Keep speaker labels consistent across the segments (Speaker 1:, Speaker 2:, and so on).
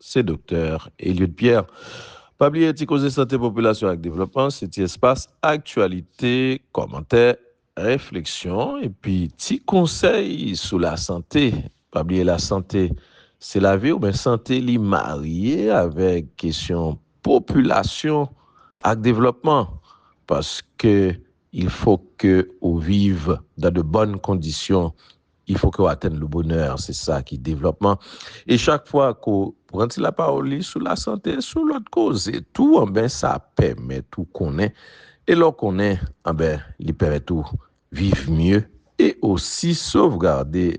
Speaker 1: Se Doktè Eliud Pierre. Pa bliye ti koze sante popilasyon ak devlopman se ti espas aktyalite, kòmantè, refleksyon epi ti konsèy sou lasante. Pa bliye lasante se lavi w men sante li marye avèk kesyon popilasyon ak devlòpman paske Il faut que ou viv dans de bonnes conditions, il faut que ou atenn le bonheur, se sa ki devlòpman. E chak fwa ke ou pran ti lapawòl li sou lasante, sou lòt koze tou, anben sa pèmèt ou konnen, e lè w konnen, anben li pèmèt ou viv mye e osi sovgarde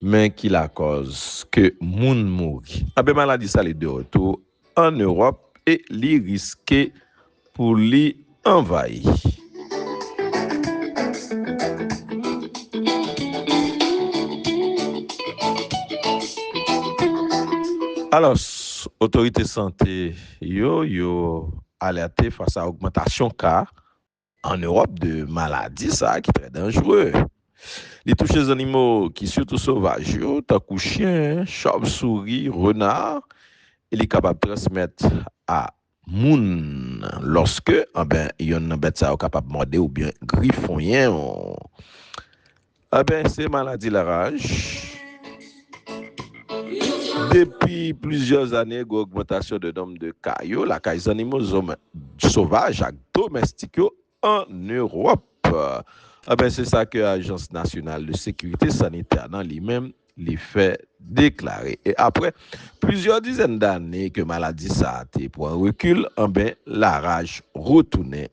Speaker 1: Men ki lakòz ke moun mouri. Anben maladi sa li de retou an Ewòp e li riske pou li anvayi. Alòs, otorite sante yo yo alète fas a ogmantasyon ka an Ewòp de maladi sa ki trè danjre. Li touche zannimo ki sitou sovaj yo tankou chyen, chòvsouri, rena e li kapab transmèt a moun lòske anben yonn nan bèt sa yo kapab mòde ou byen grifonyen ou. Anben se maladi laraj. Depi plizyè ane gen ogmantasyon de nonb de ka yo lakay zannimo sovaj ak domèstik yo ann Ewòp. Anben se sa ke Ajans Nasyonal de Sekirite Sanitè nan li menm li fè deklare. E apre plizyè dizèn dane ke maladi sa a te pran rekil, anben laraj retounen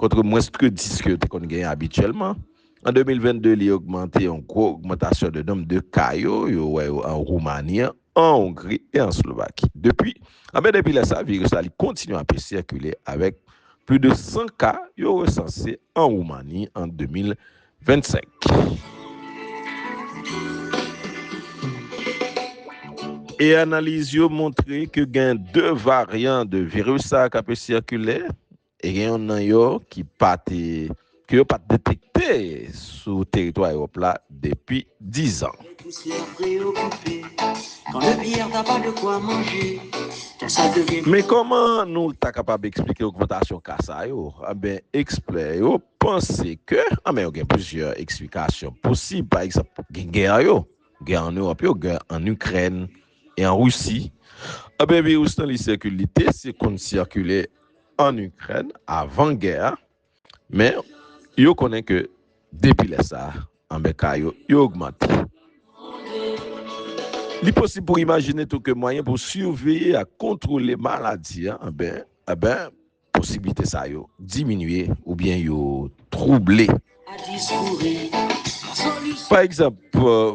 Speaker 1: kontre mwens ke 10 ke yo te konn genyen abityèlman. An 2022, li ogmante yon gwo ogmantasyon de nonb de ka yo, yo wè yo an Roumani, an Ongri e an Slovaki. Depi, anben depi lè sa, viris la li kontinye ap sikile avèk plis de 100 ka yo resanse an Roumani an 2022. 25. E analiz yo montre ke gen 2 varyan de viris sa a k ape sikile, e gen yon nan yo ki pa te, ke yo pa te detekte sou teritwa Ewòp la depi 10 an. Men kòman nou ta kapab eksplike ogmantasyon ka sa yo? Enben, ekspè yo panse ke, an men yo gen plizyè eksplikasyon posib, pa egzanp, gen gè yo, gè an Ewòp yo, gè an Ikrèn e an Risi, an ben viris lan li sikile, li te si konn sikile an Ikrèn avan gè a, men yo konnen ke depi lè sa a, an ben ka yo, yo ogmante. Li posib pou imajine tou ke mwayen pou siveye ak kontwole maladi a, an ben, an ben, Posiblite sa yo diminye oubyen yo twouble. Pa egzanp,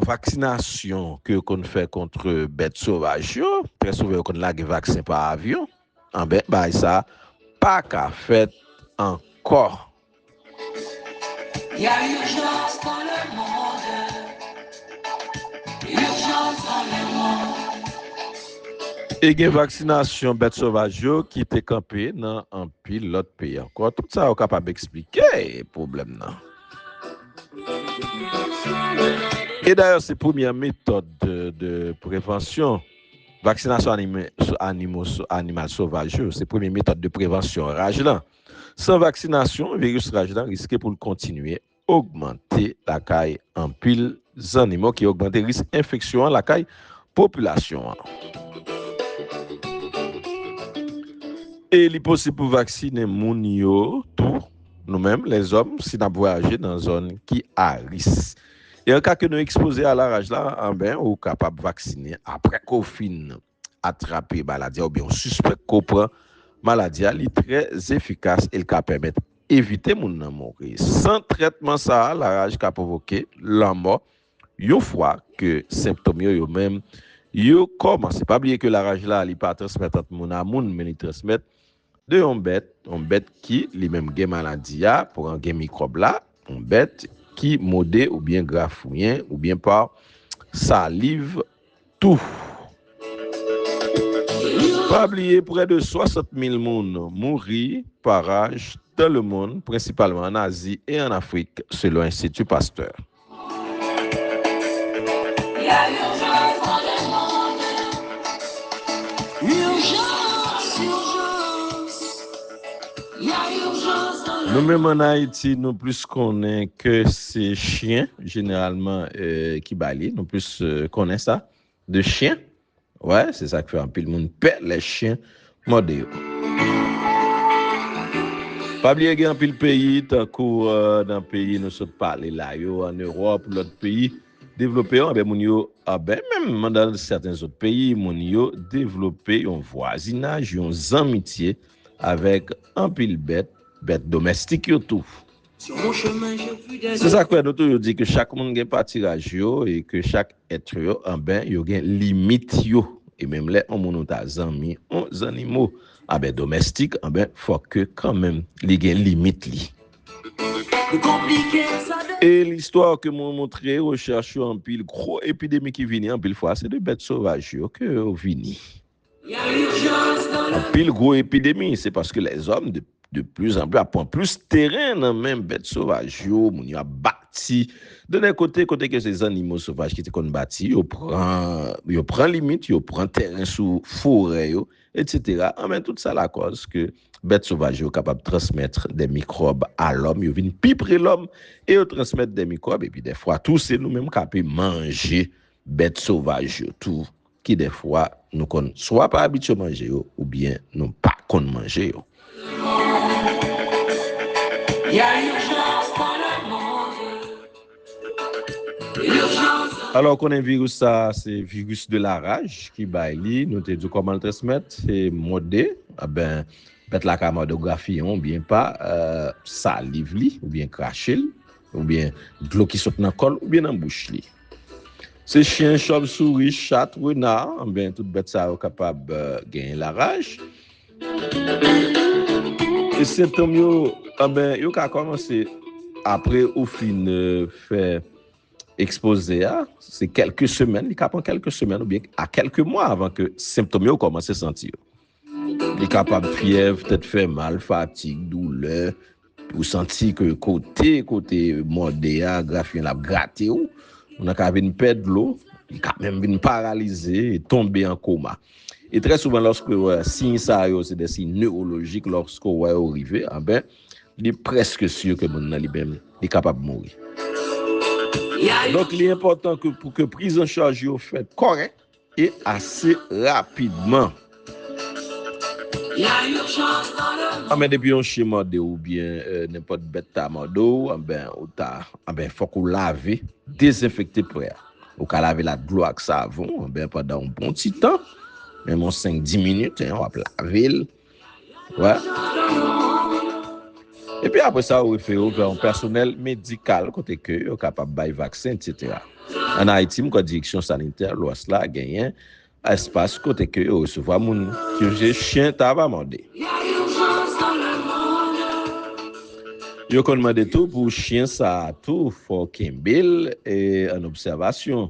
Speaker 1: vaksinasyon ke yo konn fè kontre bèt sovaj yo, trè souvan yo konn lage vaksen pa avyon, anben bagay sa pa ka fèt ankò E gen vaksinasyon bèt sovaj yo ki te kanpe nan anpil lòt peyi ankò. Tout sa yo kapab eksplike pwoblèm nan. E dayè se premyè metòd de prevansyon. Vaksinasyon animal sovaj yo se premye metòd de prevansyon raj lan. San vaksinasyon, viris raj la riske pou l kontinye ogmante lakay anpil zannimo ki ogmante risk enfeksyon an lakay popilasyon an. E li posib pou vaksinen moun yo tou, nou menm lèzòm, si n ap vwayaje nan zòn ki a ris. E an ka ke nou ekspoze a la raj la, anben ou kapab vaksinen apre ke w fin atrape maladi a oubyen ou sispèk ke w pran maladi a, li trè efikas e li ka pèmèt evite moun nan mouri. San trètman sa a, laraj ka pwovoke lanmò yon fwa ke senptom yo yo menm yo kòmanse. Pa bliye ke laraj la li pa transmèt ant moun a moun men li transmèt De yon bèt, yon bèt ki li menm gen maladi a, pran gen mikwòb la, yon bèt ki mode oubyen grafouyen oubyen pa saliv tou. Pa bliye prè de 60 mil moun mouri pa raj dan lemonn, prensipalman an Azi e an Afrik, selon Enstiti Pastè.
Speaker 2: Nou menm an Ayiti nou
Speaker 1: plis konnen ke se chyen jeneralman ki bay li, nou plis konnen sa de chyen. Wè, se sa k fè anpil moun pè lè chen mòde yo. Pa bliye gen anpil peyi, tankou nan peyi nou sot pale la yo, an Ewòp, lòt peyi devlope yo, anben moun yo, anben menm nan sèten zòt peyi, moun yo devlope yon vwazinaj, yon zanmitye avèk anpil bèt, bèt domèstik yo tou.
Speaker 2: Se sak fè nou toujou di
Speaker 1: ke chak moun gen patiraj yo e ke chak etre yo anben yo gen limit yo e menm lè on moun ou ta zanmi on zannimo anben domèstik anben fòk ke kanmenm li gen limit li. E listwa ke moun montre rechèch yo anpil gwo epidemi ki vini anpil fwa se de bèt sovaj yo ke yo vini. Anpil gwo epidemi se paske lèzòm de plis an plis ap pran plis teren nan men bèt sovaj yo, moun yo ap bati de lè kote, kote ke se zannimo sovaj ki te konn bati, yo pran limit, yo pran teren sou forè yo, etsetera, anben tout sa lakòz ke bèt sovaj yo kapab transmèt de mikwòb a lòm, yo vin pi pre lòm e yo transmèt de mikwòb, epi dèfwa tou se nou menm k'ape manje bèt sovaj yo tou. Ki dèfwa nou konn swa pa abitye manje yo oubyen nou pa konn manje yo.
Speaker 2: Alò ou konnen viris
Speaker 1: sa a se viris de la raj ki bay li, nou te di w kòman l transmèt, se mòde, anben bèt la ka mòde w grafiyen w oubyen pa saliv li oubyen krache l, Oubyen dlo ki sot nan kòl oubyen nan bouch li. Se chyen, chòvsouri, chat, rena, anben tout bèt sa yo kapab genyen laraj. E sentom yo, anben yo ka kòmanse apre ou fin fè ekspoze a, se kèlke semèn, li ka pran kèlke semèn oubyen a kèlke mwa avan ke sentom yo kòmanse santi yo. Li kapab fyèv, tèt fè mal, fatig, doulè, ou santi ke kote kote mòde a grafiyen l ap grate w, moun nan ka vin pè dlo, li ka menm vin paralize, tonbe an koma. E trè souvan lòske wè siy sa yo se de siy newolojik lòske w wè yo rive anbè li prèske si ke moun nan li menm li kapab mouri. Donk li enpòtan ke pou ke prizancharj yo fèt kòrèk. E ase rapidman.
Speaker 2: Anben depi yon chien mòdew ou
Speaker 1: byen nenpòt bèt ta mòdew anben ou ta anben fòk ou lave dezenfekte pwen an ou ka lavel ak dlo ak savon anben pandan yon bon ti tan menm yon 5 10 minit hein wap lavel. Epi apre sa, yo refere w vè yon pèsonèl medikal kote ke yo kapab bay vaksen, etsetera. An Ayiti, m kwè Direksyon Sanitè Lwès la genyen espas kote ke yo resevwa moun sou je chyen ta va mòde. Yo konn mande tou pou chyen sa a tou fò w kenbe l an obsèvasyon.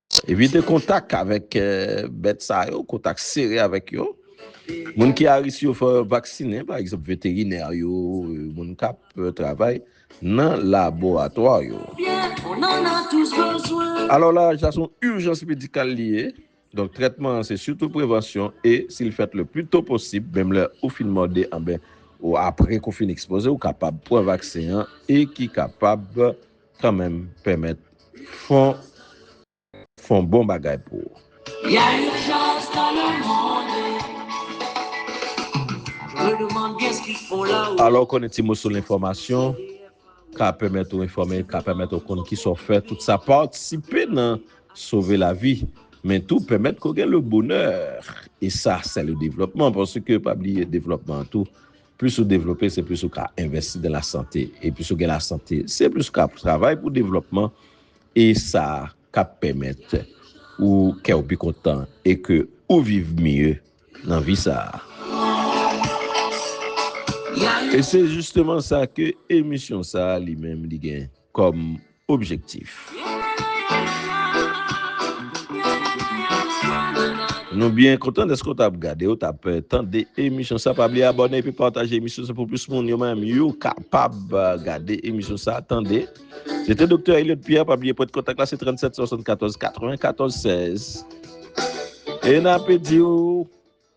Speaker 1: Evite kontak avèk bèt sa yo, kontak sere avèk yo. Moun ki a risk yo fò vaksinen, pa egzanp veterinè yo, moun k ap travay nan laboratwa yo. Alò laj la se yon ijans medikal li ye, donk trètman an se sitou prevansyon e si l fèt le pli to posib, menm lè ou fin mòde anben ou apre ke w fin ekspoze, ou kapab pran vaksen an e ki kapab. Kan menm pèmèt fon fon bon bagay pou ou. Ya urgence
Speaker 2: dans le monde Je me demande bien ce qu'ils font là haut. Alò konnen ti moso
Speaker 1: lenfòmasyon ka pèmèt ou enfòme, ka pèmèt ou konn kisa w fè, tout sa patisipe nan sove lavi men tou pèmèt ke w gen le bonheur e sa sè le devlòpman paske pa bliye devlòpman an tou Plis ou devlope, se plis ou ka envèsti nan lasante. E plis ou gen lasante, se plis ou ka ap travay pou devlòpman e sa k ap pèmèt ou kè ou pi kontan e ke ou viv mye nan vi sa a. E se jisteman sa ke emisyon sa a li menm li gen. kòm objektif. Nou byen kontan deske w tap gade, w tap tande emisyon sa. Pa bliye abòne epi pataje emisyon sa pou plis moun yo menm yo kapab gade emisyon sa, tande. Se te Doktè Elliot Pierre, pa bliye pwen de kontak la se 37 74 94 16. E n ape di w